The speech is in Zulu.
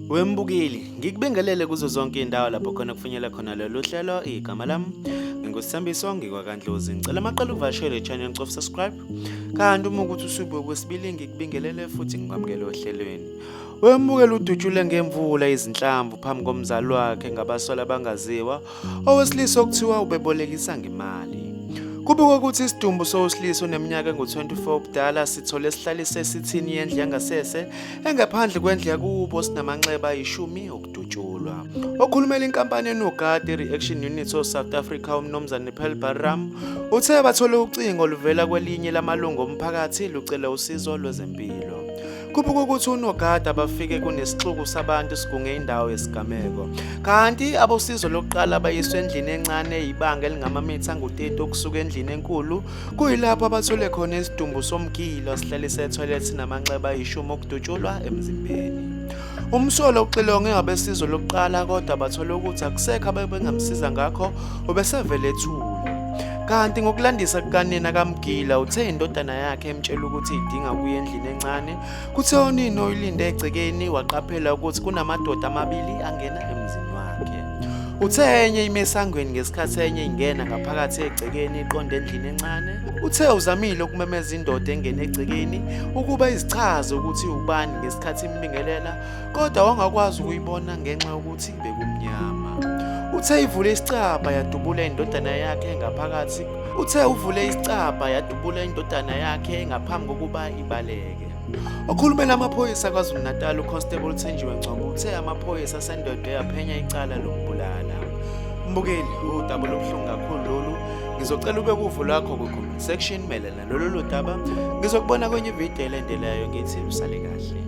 Wembukeli, ngikubingelele kuzo zonke indawo lapho khona kufunyela khona lolu hlelo igama lami. NginguSambiso ngikwaKandlozi. Ngicela amaqala uvashele channel of subscribe. Kanti uma ukuthi usube kwesibili ngikubingelele futhi ngikwamukele ohlelweni. Wembukeli udutshule ngemvula izinhlamvu phambi komzali wakhe ngabasola bangaziwa owesilisa okuthiwa ubebolekisa ngemali. Kubikwa ukuthi isidumbu sowesilisa oneminyaka engu-24 ubudala sithole sihlalise esithini yendlu yangasese engaphandle kwendlu yakubo sinamanxeba ayishumi okudutshulwa. Okhulumela inkampani enogadi i-Reaction Unit of South Africa uMnumzane Pearl Barram uthe bathole ucingo oluvela kwelinye lamalungu omphakathi lucela usizo lwezempilo. Kubukwa ukuthi unogada bafike kunesixuku sabantu sigunge indawo yesigameko. Kanti abosizo lokuqala bayiswe endlini encane eyibanga elingamamitha angu-30 okusuka endlini enkulu kuyilapho abathole khona isidumbu somgilo sihlale sethwelethi namanxeba ayishumi okudutshulwa emzimbeni. Umsolo uxilonge abesizo lokuqala kodwa bathole ukuthi akusekho abebengamsiza ngakho ubesevele ethule. Kanti ngokulandisa kukanina kaMgila uthe indodana yakhe emtshela ukuthi idinga ukuya endlini encane kuthe onini oyilinde egcekeni waqaphela ukuthi kunamadoda amabili angena emzini wakhe uthe enye ime esangweni ngesikhathi enye ingena ngaphakathi egcekeni iqonde endlini encane uthe uzamile ukumemeza indoda engene egcekeni ukuba izichaze ukuthi ubani ngesikhathi imbingelela kodwa wangakwazi ukuyibona ngenxa yokuthi bekumnyama uthe ivule isicabha yadubula indodana yakhe ngaphakathi Uthe uvule isicabha yadubula indodana yakhe ngaphambi kokuba ibaleke. Okhulumela amaphoyisa KwaZulu-Natal uConstable Thenjiwe Ngcobo uthe amaphoyisa asendodo yaphenya icala lokubulala. Mbukeli, udaba lobuhlungu kakhulu lolu. Ngizocela ube kuvo lwakho kwi-comment section melana lolu daba. Ngizokubona kwenye ividiyo elendelayo ngithi usale kahle.